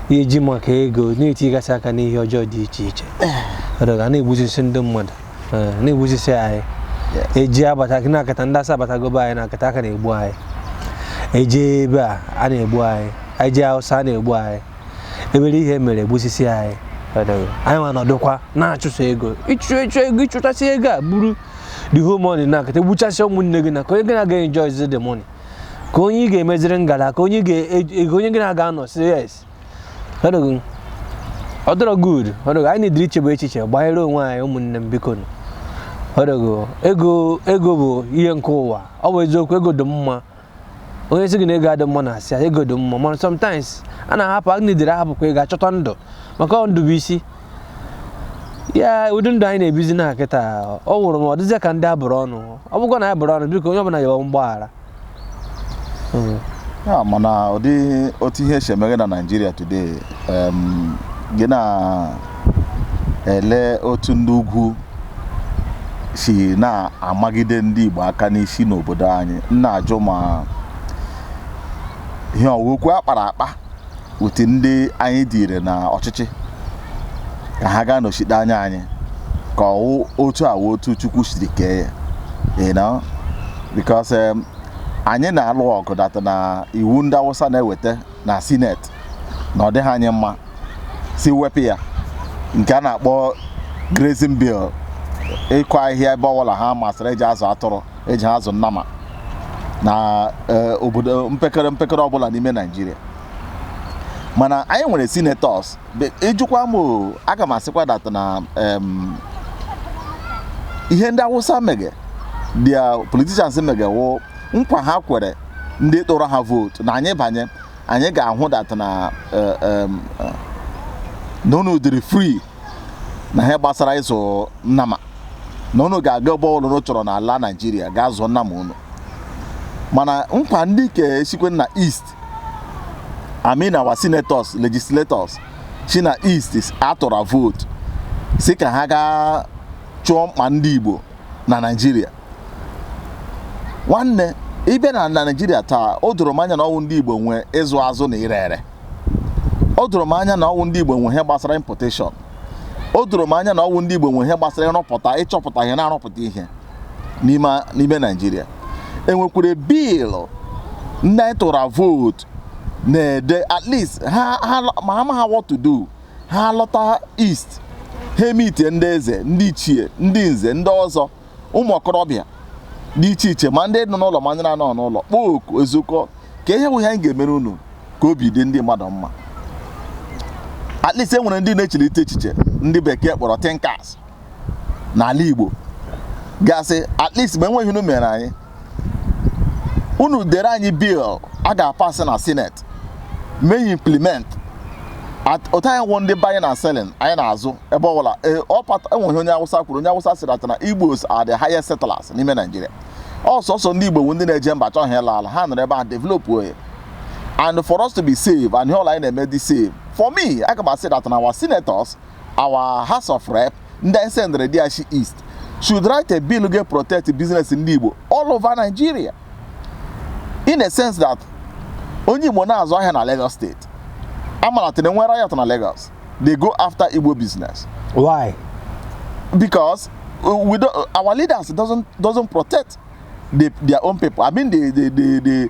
eji maka ego na-etigasị aka n'ihe ọjọọ dị iche iche ọdọga na-egbuzisi ndị mmadụ eh, na-egbuzisi anyị eji abata gị na-akata ndị asa abatagobe anyị na-akata aka na-egbu anyị eji ebe a a na-egbu anyị eji awụsa na-egbu anyị ebere ihe mere egbusisi anyị ọdọga anyị nwa nọdụkwa na-achụso ego ịchụ ịchụ ego ịchụtasị ego a buru the whole money na-akata egbuchasị ụmụnne gị na ka onye gị na ya ga-enjoy the money ka onye ị ga-emeziri ngala ka onye gị na ya ga-anọ sị yes ọ dịrọ good ọdọgo anyị na-ediri ichebe echiche gbanyere onwe anyị ụmụnne m biko ọdọgo ego ego bụ ihe nke ụwa ọ bụ eziokwu ego dị mma onye sị gị na ego adị mma na-asị ya ego dị mma mana sometimes a na-ahapụ a na-edere ahapụkwa ego achọta ndụ maka ndụ bụ isi ya ụdị ndụ anyị na-ebizi na kịta ọ wụrụ ma ọ dịzịa ka ndị abụrụ ọnụ ọ bụkwa na anyị bụrụ ọnụ biko onye ọbụla yọọ mgbaghara Mm. ya mana ụdị otu ihe si emeghe na naijiria today em, gị na-ele otu ndị ugwu si na-amagide ndị igbo aka n'isi n'obodo anyị m na-ajụ ma ihe ọ wụ okwu a kpara akpa with ndị anyị dịire na ọchịchị ka ha gaa nọchite anya anyị ka ọ wụ otu a wụ otu chukwu siri kee ya you know because um, anyị na-alụ ọgụ dat na iwu ndị awụsa na-eweta na sineti na ọ dịghị anyị mma sị wepụ ya nke a na-akpọ grazing bill ịkụ ahịhịa ebe ọbụla ha masịrị eji azụ atụrụ eji ha azụ nnama na eh, obodo mpekere mpekere ọbụla n'ime naijiria mana anyị nwere senators Be- ị jụkwa m o, aga m asịkwa dat na em, ihe ndị awụsa mege dia politicians mege wụ nkwa ha kwere ndị tụrụ ha vootu na anyị banye anyị ga-ahụ dat na eh, em, eh, na unu dịrị free na ihe gbasara ịzụ nnama na unu ga-aga ebe ọbụla unu chọrọ n'ala naijiria gaa zụọ nnama unu mana nkwa ndị nke sikwa na east I mean our senators legislators si na east a tụra vote sị ka ha gaa chụọ mkpa ndị igbo na naijiria nwanne ị bịa na na naijiria taa o doro m anya na ọ wụ ndị igbo nwe ịzụ azụ na ire ere o doro m anya na ọ wụ ndị Igbo nwe ihe gbasara importation o doro m anya na ọ wụ ndị Igbo nwe ihe gbasara ịrụpụta ịchọpụta ihe na-arụpụta ihe n'ime Naijiria enwekwere biilụ ndị anyị tụra vootu na-ede at least ma ha amaghị what to do ha lọta east ha emitie ndị eze ndị ichie ndị nze ndị ọzọ ụmụ okorobịa dị iche iche ma ndị nọ n'ụlọ ma ndị na-anọghị n'ụlọ kpọọ oku ezukọ ka ihe bụ ihe anyị ga-emere unu ka obi dị ndị mmadụ mma at least e nwere ndị na-echelite echiche ndị bekee kpọrọ thinkers n'ala Igbo gasị at least ma enweghị ihe unu mere anyị unu dere anyị bill a ga-apasị na senate mee implement otu anyị wụ ndị buying and selling anyị na-azụ ebe ọbụla e nwe ihe onye awụsa kwuru onye awụsa sịrị that na igbos are the highest settlers n'ime naijiria ọ sọsọ ndị igbo wụ ndị na-eje mba achọghị ịla ala ha nọrọ ebe a developuo ya and for us to be safe and ihe ọwụla anyị na-eme dị safe for me aga m asị that na our senators Our House of Rep ndị anyị sendịrị there shi East should write a bill ga protect business ndị Igbo all over Nigeria in a sense that onye Igbo na-azụ ahịa na Lagos state a malite nwere riot na Lagos they go after Igbo business why because uh, we don't, our leaders doesn't doesn't protect the, their own people. I mean, the, the, the, the,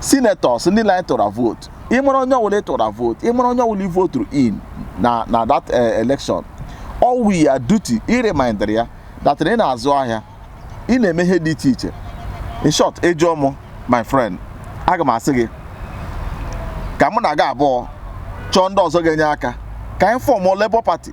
senators ndị nile anyị tụra vootu ịmara onye ọwụla ịtụra vootu ịmara onye ọwụla ivoturu in na na that eh, election ọ wụ your duty ịremindịrị ya that na ị na-azụ ahịa ị na-eme ihe dị iche iche in short ịjụọ m my friend aga m asị gị ka mụ na gị abụọ chọọ ndị ọzọ ga-enye aka ka anyị fọmụ Labour Party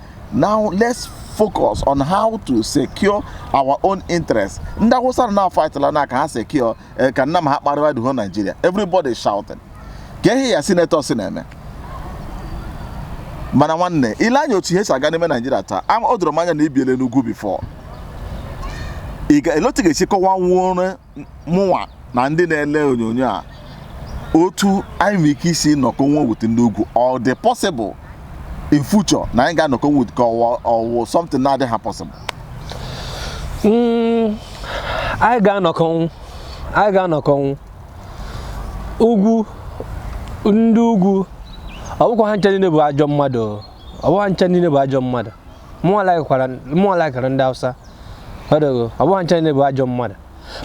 Now let's focus on how to secure our own interests. Ndị Awụsa na-afight like ka ha secure eh, ka nanị ha kparịwa the whole Nigeria. Everybody shouting. Kee ihe your senators na-eme. Mana nwanne, i lee anya otu ihe si aga n'ime Nigeria taa, o doro m anya na i biele n'ugwu before. Ị ga elee otu ị ga-esi kọwanwuru mụnwa na ndị na-ele onyonyo a otu anyị nwere ike isi nọkọnwụ with ndị ugwu ọ dị possible in future na anyị ga-anọkọ wit ka ọ wụ something na-adịha possible hmm, anyị ga-anọkọnwụ anyị ga-anọkọnwụ ugwu ndị ugwu ọ bụkwa ha ncha niile bụ ajọ mmadụ ọ bụkwa ha ncha niile bụ ajọ mmadụ mụnwa laikara ndị Hausa ọ dịghị ọ bụghị ncha niile bụ ajọ mmadụ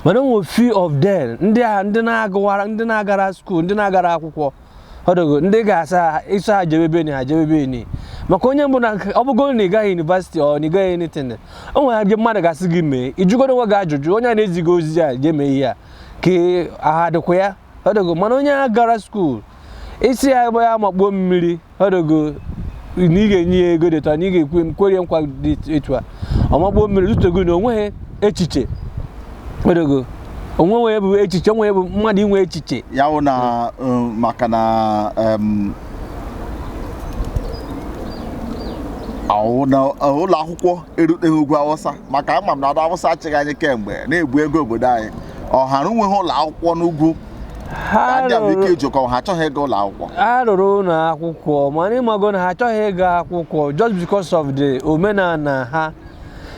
mana enwe few of them ndị a ndị na-agụwara ndị na-agara school ndị na-agara akwụkwọ ọ dịghị ndị ga-asa ha isi ha jebe beni ha jebe beni maka onye ọbụna ọ bụgo na ị gaghị university or na ị gaghị anything o nwere ihe mmadụ ga-asị gị mee ịjụgodo onwe gị ajụjụ onye a na-ezi gị ozi a jee mee ihe a ka ahụ dịkwa ya ịghọtago mana onye agarọ skuul ị sị ya ebe ya makpuo mmiri ịghọtago na ị ga-enye ya ego dịtụ na ị ga-ekwe m kwerie nkwa dị etu a ọ makpuo mmiri zutego na onweghị echiche ịghọtago onwe ihe bụ echiche onwe ihe bụ mmadụ inwe echiche ya wụ na um, maka na um, awụ na uh, ụlọ akwụkwọ eruteghị ugwu awụsa maka ama m na ndị awụsa achịgo anyị kemgbe na-ebu ego obodo anyị ọhara onweghị ụlọ akwụkwọ n'ugwu ha ndị a bụ ike rụrụ ijikọ ha achọghị ịga ụlọ akwụkwọ ha rụrụ ụlọ akwụkwọ mana ịmago na ha achọghị ịga akwụkwọ just because of the omenala ha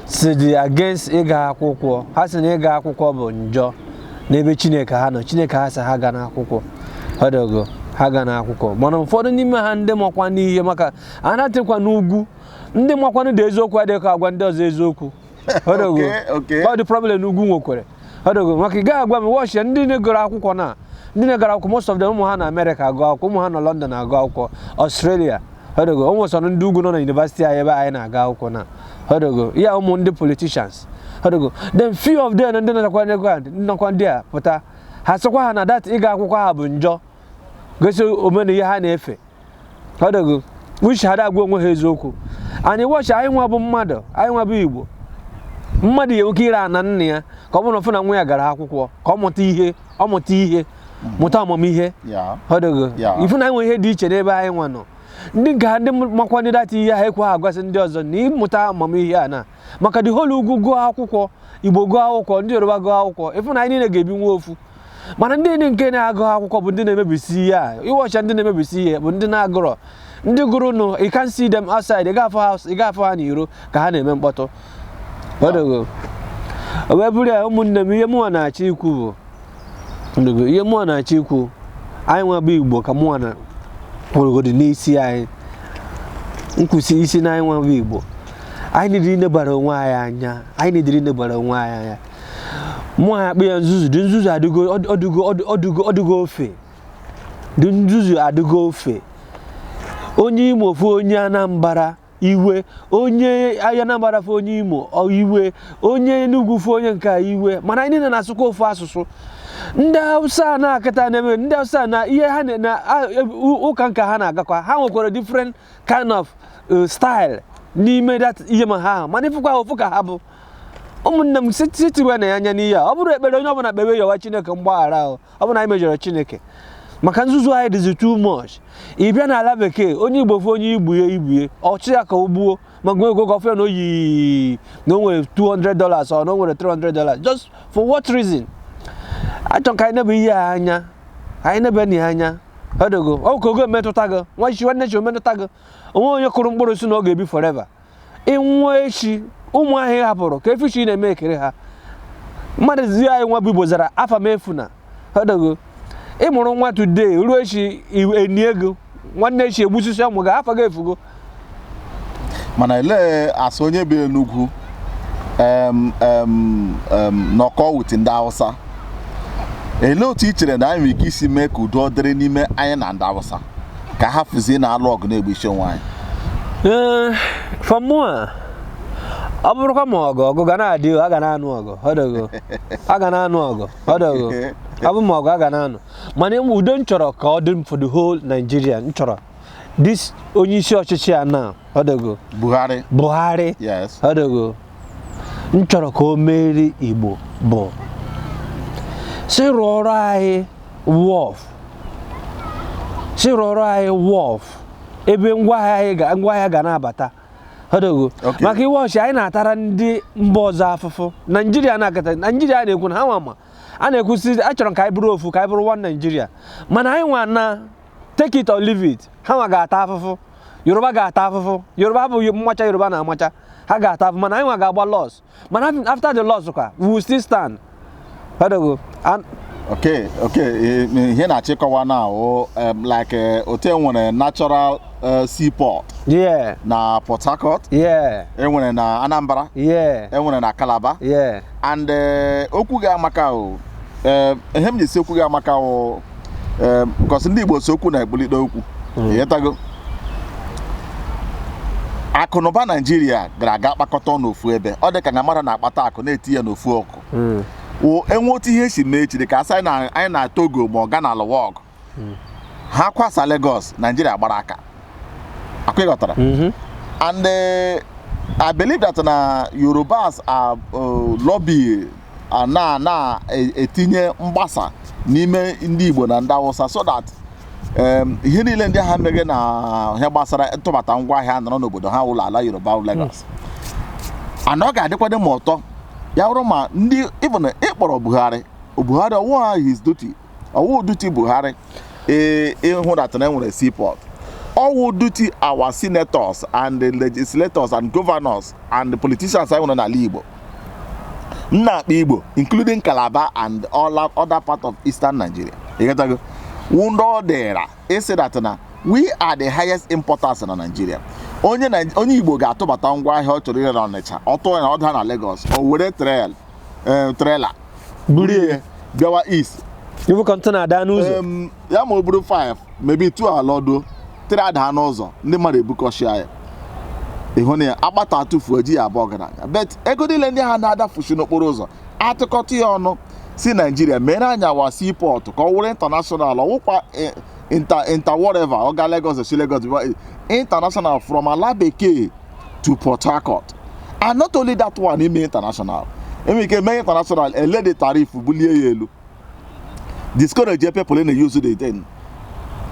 si dị against ịga akwụkwọ ha si na ịga akwụkwọ bụ njọ n'ebe chineke ha nọ chineke ha sị ha agana akwụkwọ ịghọtago ha agana akwụkwọ mana ụfọdụ n'ime ha ndị makwanụ ihe maka anọtụkwa n'ugwu ndị makwanụ the eziokwu adịghị agwa ndị ọzọ eziokwu ịghọtago Okay, okay. ọ dị problem ndị ugwu nwekwara ịghọtago maka ị gaghị agwa m watch ndị na-egoro akwụkwọ na ndị na-egoro akwụkwọ most of them ụmụ ha nọ amerịka agụ akwụkwọ ụmụ ha nọ london agụ akwụkwọ ọstrelia ịghọtago o nwesịrị ndị ugwu nọ na yunivasiti anyị ebe anyị na-aga akwụkwọ na ịghọtago ya ụmụ ndị politicians ịghọtago then few of them ndị nwekwanụ ego nnọkwa ndị a pụta ha sịkwa ha na that ịga akwụkwọ ha bụ njọ gosi omena ihe ha na-efe ịghọtago which ha agwa onwe ha eziokwu anyị watch anyị nwa bụ mmadụ anyị nwa bụ igbo mmadụ ya-enwe ike ire ana nna ya ka ọ bụrụ na na nwa ya gara akwụkwọ ka ọ mụta ihe ọ mụta ihe mụta amamihe ịghọtago ịfụ na anyị nwe ihe dị iche n'ebe anyị nwa nọ ndị nke ha ndị makwanụ that ihe ha ekwe ha agwasị ndị ọzọ na ịmụta amamihe a na maka the whole ugwu gụọ akwụkwọ igbo gụọ akwụkwọ ndị yoruba gụọ akwụkwọ ịfụ na anyị niile ga-ebi nwa ofu mana ndị enyi nke na-agụ akwụkwọ bụ ndị na-emebisi ihe a ị watchịa ndị na-emebisi ihe bụ ndị na-agụrọ ndị gụrụ nụ you can see them outside ị ga-afụ ha ị ga-afụ ha n'iro ka ha na-eme mkpọtụ ịghọtago. o wee bụrụ ya ụmụnne m ihe mụnwa na-achọ ikwu bụ ịghọtago, ihe mụnwa na-achọ ikwu anyị nwa bụ igbo ka mụnwa na kwụrụgodi n'isi anyị nkwụsị isi na anyị nwa bụ igbo anyị nidiri inebara onwe anyị anya anyị nidiri inebara onwe anyị anya mụ akpọ ya nzuzu the nzuzu adịgo ofe the nzuzu adịgo ofe onye imo fụ onye anambra iwe onye anambra fụ onye imo iwe onye enugwu fụ onye nke iwe mana anyị niile na-asụkwa ofu asụsụ ndị hausa na-akịta na-eme ndị hausa na ihe ha na ụka nke ha na-agakwa ha nwekwara different kind of uh, style n'ime ihe ma ha mana ịfụkwa ofu ka ha bụ ụmụnne m sị tiwe na ya anya n'ihe a ọ bụrụ ekpere onye ọbụla kpewe yọwa chineke mgbaghara ahụ ọ bụrụ na anyị mejọrọ chineke maka nzuzu anyị dịzi too much ị bịa n'ala bekee onye igbo fụ onye igbo ibe ọ chụ ya ka o gbuo ma gụọ ego gọfịa na oyi na o nwere 200 dollars or na o nwere 300 dollars just for what reason achọ ka anyị nebe ihe a anya anyị nebe na ya anya ọdogo ọ ka ga-emetụta gị nwa echi nwanne echi o metụta gị o nwe onye kụrụ mkpụrụ sị na ọ ga-ebi forever ị nwụọ echi ụmụ ahụ ị hapụrụ ka efichi na-eme ekere ha mmadụ zi anyị nwa bụ igbo zara afa m efuna ọdọgo ị mụrụ nwa today ruo echi enie gị nwanne echi egbusisie ụmụ gị afa gị efugo mana elee as onye bi n'ugwu nọkọ with ndị Hausa elee otu i chere na anyị nwere ike isi mee ka udo dịrị n'ime anyị na ndị Hausa ka hafụzie na-alụ ọgụ na-egbuisi onwe anyị ee eh, for mụwa ọ bụrụkwa ma ọgụ ọgụ ga na-adị a ga na-anụ ọgụ ọdọgo a ga na-anụ ọgụ ọdọgo ọ bụ ma ọgụ a ga na-anụ mana em udo m chọrọ ka ọ dị m for the whole Nigeria m chọrọ this onye isi ọchịchị a na ọdọgo Buhari Buhari ọdọgo m chọrọ ka o meeri Igbo bụ sị rụọrọ anyị wharf sị rụọrọ anyị wharf ebe ngwaahịa ga na-abata ọdọgo maka iwe ọchị anyị na-atara ndị mba ọzọ afụfụ naijiria na-akata naijiria na-ekwu na ha nwa ma a na-ekwu sị a chọrọ ka anyị bụrụ ofu ka anyị bụrụ one naijiria mana anyị nwa na take it or leave it ha nwa ga-ata afụfụ yoruba ga-ata afụfụ yoruba bụ mmacha yoruba na-amacha ha ga-ata afụfụ mana anyị nwa ga-agba loss mana after the loss kwa we will still stand ọdọgo okay okay ihe na-achọ ịkọwa na ọ like eh, otu enwere natural eh, seaport yeah na port harcourt yeah enwere na anambra yeah enwere na calabar yeah and eh, okwu gị amaka o ihe m ji sị okwu gị amaka o ee because ndị Igbo sị okwu na-ekpulite okwu ị ghọtago akụnụba naijiria gara aga kpakọta n'ofu ebe ọ dị ka na mmadụ na-akpata akụ na-eti ya n'ofu ọkụ e nwee otu ihe si mee chiri ka a sị anyị na- anyị na togo ma ọ Ghana alụwa ọgụ ha kwasa Lagos naijiria agbara aka ọ kwa ị ghọtara and eh, i believe that na yorubas are uh, lobby na na-etinye e, mgbasa n'ime ndị Igbo na ndị Awụsa so that ihe niile ndị ha meghe na ihe gbasara ntụbata ngwa ahịa nọrọ n'obodo ha wụ l'ala Yoruba Lagos hmm. and ọ ga-adịkwado ma ụtọ ya bụrụ ma ndị even ị kpọrọ Buhari Buhari ọ wụha his duty ọwụ duty buhari ee ịhụ that na enwere seaport ọwụ duty our senators and the legislators and governors and the politicians anyị nwere n'ala igbo m na-akpa igbo including calabar and all other part of eastern nigeria ịghọtago wụ ndị ọ dịra ịsị that na we are the highest importers na nigeria onye Nai- onye igbo ga-atụbata ngwa ahịa ọ chọrọ ire na ọnịcha ọ tụọ ya ọ daa na lagos o were trail eh, trailer buru ihe bịawa east ibu container adaa n'ụzọ Em, ya ma o buru 5 maybe 2 alọdo 3 adaa n'ụzọ ndị mmadụ ebukọshịa ya ịhụ na ya akpata atụfuo eji ya abụ ọgaranya but ego niile ndị ha na-adafusi n'okporo ụzọ atụkọta ya ọnụ si nigeria mere anyịwa seaport ka ọ wụrụ international ọwụkwa eh, inter inter whatever ọ ga lagos si lagos bịa international from ala bekee to Port Harcourt and not only that one ime international enwere ike mee international ele the tariff bulie ya elu discourage people na use the thing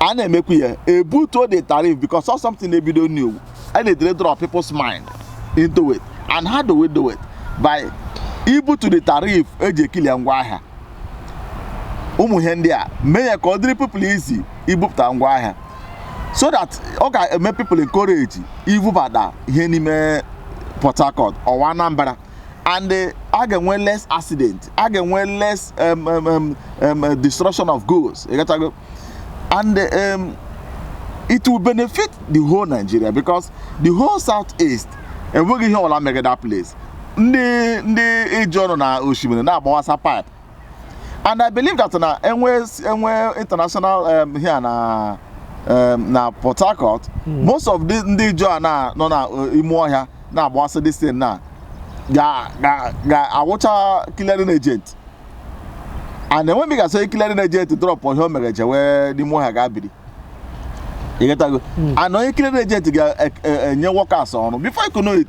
a na-emekwu ya ebutuo the tariff because of something na-ebido new and they draw people's mind into it and how do we do it by ibutu the tariff eji eclear ngwa ahịa ụmụ ihe ndị a mee ya ka ọ dịrị people easy ibupụta ngwa ahịa so that ọ ga-eme people encourage ibubata ihe n'ime Port Harcourt or Anambra and eh, a ga-enwe less accident a ga-enwe less um, um, um, um, uh, destruction of goods ịghọtago and um, it will benefit the whole Nigeria because the whole southeast enweghị ihe ọla megide that place ndị ndị Ijaw nọ na osimiri na-agbawasa pipe and i believe that na enwe enwe international um, here na um, na port harcourt mm. most of ndị Ijaw a na nọ na uh, ime ọhịa na-agbasa this thing na ga-awụcha clearing agent and enwe m ga-asị clearing agent drop ihe o mere jewe n'ime ọhịa gaa biri ịghọtago hmm. and onye clearing agent ga-enye e, e, workers ọrụ before you know it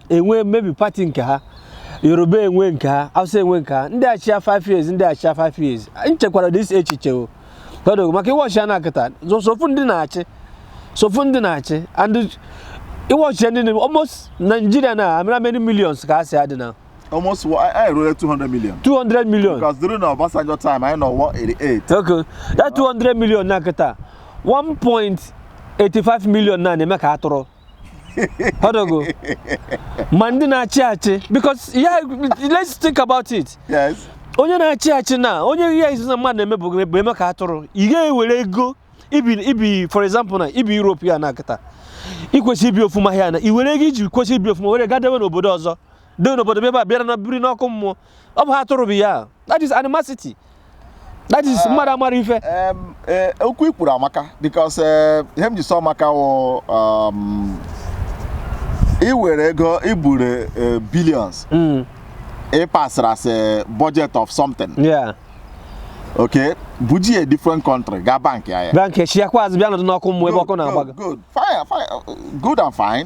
enwe maybe party nke ha yoruba enwe nke ha hausa enwe nke ha ndị achịa 5 years ndị achịa 5 years m chekwara this echiche o ọdụ maka ị watch ya na kịta so few ndị na-achị so few ndị na-achị and ị watch ya ndị na almost Nigeria now I mean how many millions ka anyị dị now almost anyị ruru 200 million 200 million because during the Obasanjo time anyị nọ 188 okay that 200 million na kịta 1.85 million na na-eme ka atụrụ Ịghọtago. Ma ndị na-achị achị because yeah, let's think about it. Yes. Onye na-achị achị na onye ihe izu na mmadụ na-eme bụ eme ka atụrụ. Ị ga-ewere ego ibi ibi for example na ibi Europe here na kịta. Ị kwesị ibi ofuma here na i were ego iji kwesị ibi ofuma were gaa dewe n'obodo ọzọ. Dewe n'obodo ebe a bịara na biri n'ọkụ mmụọ. ọ bụ ha atụrụ bụ ya that is animosity that is mmadụ amara ife Em, eh, okwu i kwuru amaka because eh, ihe m ji sị ọ maka wụ um, i were ego i bure eh, billions Mm, e passịrị as a budget of something yeah. okay bujie different country gaa bankịa ya bank i chighakwa azụ bịa nọdụ n'ọkụ mmụọ ebe ọkụ na-agba gị good fine fine good and fine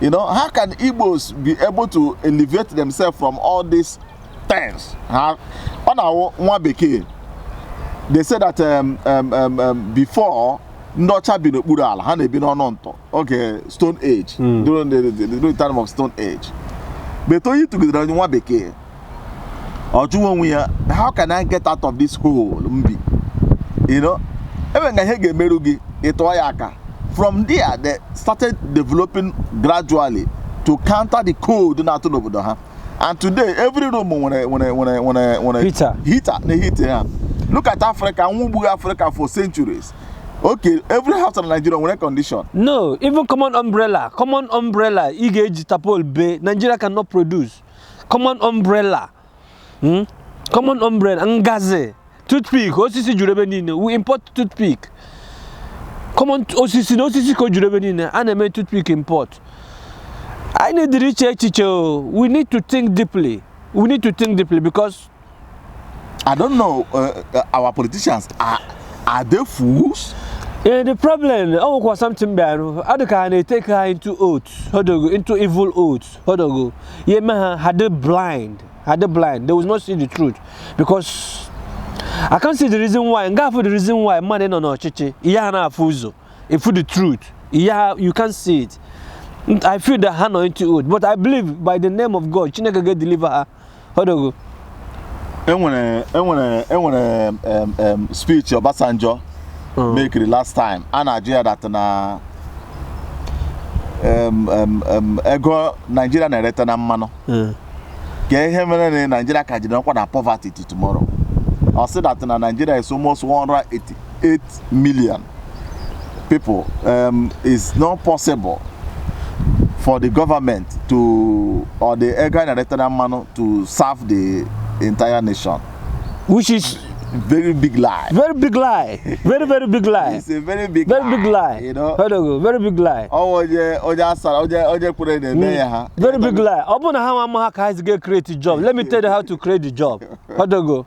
You know, how can Igbos be able to elevate themselves from all these things? Huh? ọ na-awụ nwa bekee, they say that um, um, um, um, before ndị ọcha bi n'okpuru ala ha na-ebi n'ọnụ ntụ oge stone age hmm. during the, the, the, the time of stone age but oyi tụgide nwa bekee ọ jụwa onwe ya how can I get out of this hole m bi you know e nwere ka ihe ga-emeru gị ị tụọ ya aka from there they started developing gradually to counter the cold na-atụ n'obodo ha and today every room nwere nwere nwere nwere nwere Heater. heater na-eheat ha look at Africa anwụ gburu Africa for centuries okay every house in Nigeria nwere condition no even common umbrella common umbrella ị ga-eji tapol bee Nigeria cannot produce common umbrella hmm? common umbrella ngazi toothpick osisi juru ebe niile we import toothpick common osisi na osisi ka o juru ebe niile a na-eme toothpick import anyị needịrị iche echiche we need to think deeply we need to think deeply because I don't know uh, uh, our politicians are are they fools? Yeah, the problem ọ nwekwa something bịara ọ dị ka a na-etake ha into oath ịghọtago into evil oath ịghọtago ya eme ha ha dị blind ha dị blind they will not see the truth because I can't see the reason why m ga-afụ the reason why mmadụ nọ n'ọchịchị ya na-afụ ụzọ ịfụ the truth yeah you can't see it I feel that ha nọ into oath but I believe by the name of God Chineke ga-edeliver ha ịghọtago e nwere e nwere e nwere em, em, speech Obasanjo Mm. makeịrị last time a na-ajụ ya that na em, em, em, ego Naijiria na-ereta na mmanụ Mm. kee ihe mere na Naijiria ka jiri nọkwa na poverty till tomorrow ọ sị that na Naijiria is almost 188 million people um, is not possible for the government to or the Ega Director Mano to serve the entire nation. Which is very big lie. Very big lie. Very very big lie. It's a very big very lie. big lie. You know. Odogo, very big lie. Oh oje oje asara oje oje kure na eme ya ha. Very big lie. Ọ bụ na ha ma ha ka ha ga create job. Let me tell you how to create the job. Odogo.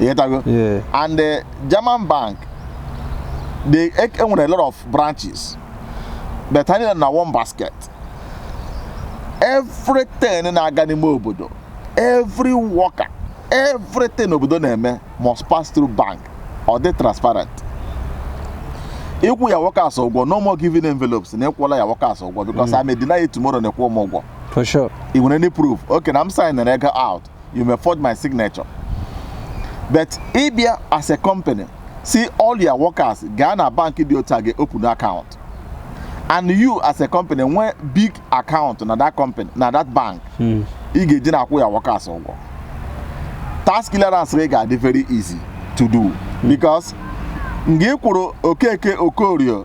ịghọtago Yeah. and eh, German bank they e e nwere a lot of branches but ha niile na one basket everything na-aga n'ime obodo every worker everything obodo na-eme must pass through bank ọ dị transparent ị kwụọ your workers ụgwọ no more giving envelopes na ị kwụọla your workers ụgwọ because I may deny you tomorrow na ị kwụ m ụgwọ for sure i nwere any proof okay na m signere ego out you may forge my signature but ị bịa as a company sị all your workers gaa na bank dị otu a gaa open account and you as a company nwee big account na that company na that bank hmm. ị ga-eji na-akwụ your workers ụgwọ tax clearance gị ga-adị very easy to do hmm. because mgbe ị kwụrụ okeke okorie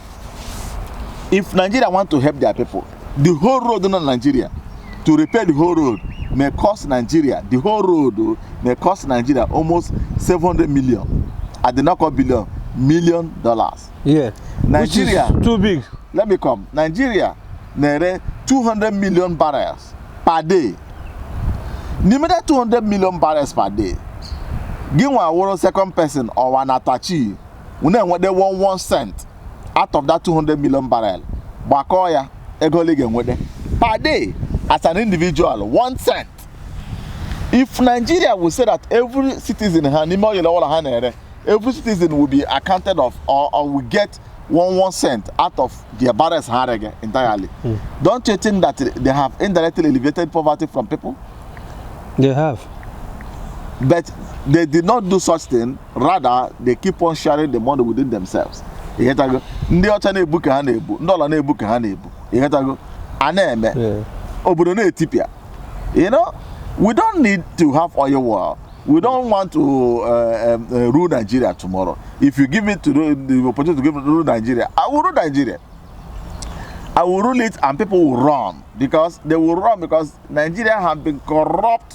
if nigeria want to help their people the whole road na nigeria to repair the whole road may cost nigeria the whole road oh, may cost nigeria almost seven hundred million at the knock-up billion million dollars. Yeah. Nigeria. Which is too big. Let me come. Nigeria na-ere 200 million barrels per day. N'ime that 200 million barrels per day, gị nwa wụrụ second person ọwa na tachi unu enwede 11 cent out of that 200 million barrel gbakọọ ya ego ole ị ga-enwede per day as an individual 1 cent if nigeria will say that every citizen ha n'ime oil ọbụla ha na-ere every citizen will be accounted of or, or will get one one cent out of their barrels ha rege entirely Hmm. don't you think that they have indirectly alleviated poverty from people They have. but they did not do such thing rather they keep on sharing the money within themselves ịghọtago ndị ọcha na-ebu ka ha na-ebu ndị ọla na-ebu ka ha na-ebu ịghọtago a na-eme Yeah. obodo na-etipịa you know we don't need to have oil well we don't want to uh, um, uh, rule nigeria tomorrow if you give me the, the opportunity to give me to rule nigeria i will rule nigeria i will rule it and people will run because they will run because nigeria have been corrupt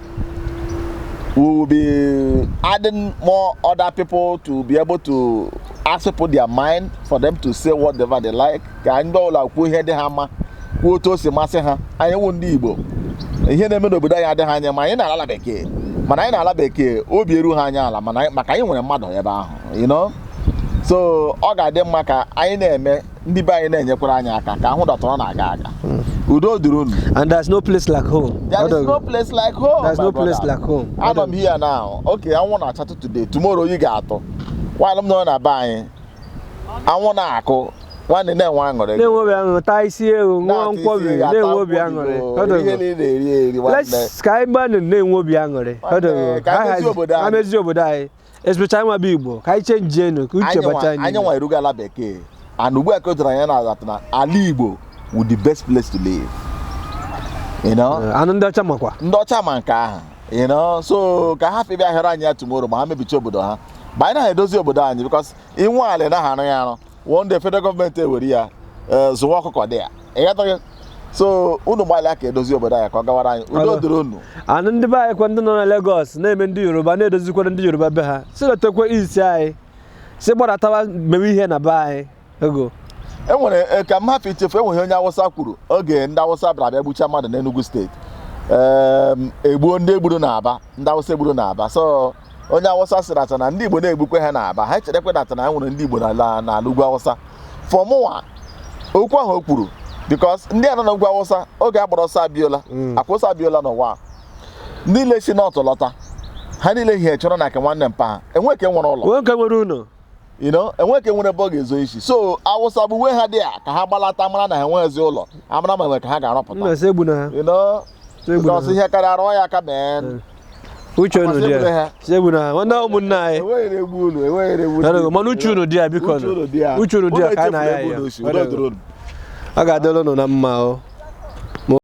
we will be adding more other people to be able to ask people their mind for them to say whatever they like ka anyị ndị ọla kwuo ihe dị ha mma kwuo otu o si masị ha anyị wụ ndị Igbo ihe na-eme n'obodo anyị adịghị anyị mma anyị nọ n'ala bekee mana anyị nọ ala bekee obi eruha anyị ala maka anyị nwere mmadụ ebe ahụ you know so ọ ga-adị mma ka anyị na-eme ndị be anyị na-enyekwara anyị aka ka ihe dị otu a na-aga aga hmm. udo dịrị unu and there's no place like home there is no place like home there's no place like home anọ m here now okay anwụ na-acha today tomorrow oyi ga-atụ while m nọ na be anyị anwụ na-akụ nwanne na-enwe aṅụrị na-enwe obi aṅụrị taa isi ewu ṅụọ nkwọbi na-enwe obi aṅụrị ka anyị gbanụ na-enwe obi aṅụrị emezi obodo anyị especially anyị nwa bụ igbo ka anyị chenjienụ ka uche bacha anyị anyị nwa erugo ala bekee and ugbu a ka o doro anya na that na ala igbo wụ the best place to live you know Eh, and ndị ọcha makwa ndị ọcha ma nke ahụ you know so ka ha hafụ ịbịa ahịrị anyị ya tomorrow ma ha mebicha obodo ha ma anyị anaha edozi obodo anyị because i nwee ala ị naha arụ ya arụ one day federal government ewere ya eh, zụwa ọkụkọ dị ya ịghọtago so unu gbalịa ka e dozie obodo anyị ka ọ gawara anyị udo dịrị unu and ndị be anyị kwa ndị nọ na Lagos na-eme ndị Yoruba na-edozikwara ndị Yoruba be ha sị latakwa isi anyị sị gbadatawa mewe ihe na be anyị ego e nwere eh, ka m hapụ ichefu e nwere ihe onye awụsa kwuru oge ndị awụsa bịara bịa gbucha mmadụ n'Enugu state Em, e gbuo ndị e gburu n'Aba ndị awụsa e gburu n'Aba so onye awụsa sị that na ndị igbo na-egbukwe ha n'aba ha chetakwa that na e nwere ndị igbo n'ala ugwu awụsa for mụwa okwu ahụ o kwuru because ndị a nọ n'ugwu awụsa oge a gbara ọsọ abiola mm. a gba ọsọ abiola nụwa ndị ile si north lọta ha niile hiechara na nke nwanne mpa ha enwe ke nwere ụlọ enwe ke nwere ụlọ you know enwe ke nwere ebe ọ ga-ezo isi so awụsa gbuwe ha there ka ha gbalata mara na ha enweghịzi ụlọ amara ma enwe ka ha ga-arụpụta you know ọsọ ihe karịa arụ ya aka mee uche unu dị ya chegbu na nwanne ụmụnne anyị mana uche unu dị ya biko uche unu dị ya ka a na-aya ya ọ ga-adịrị unu na mma o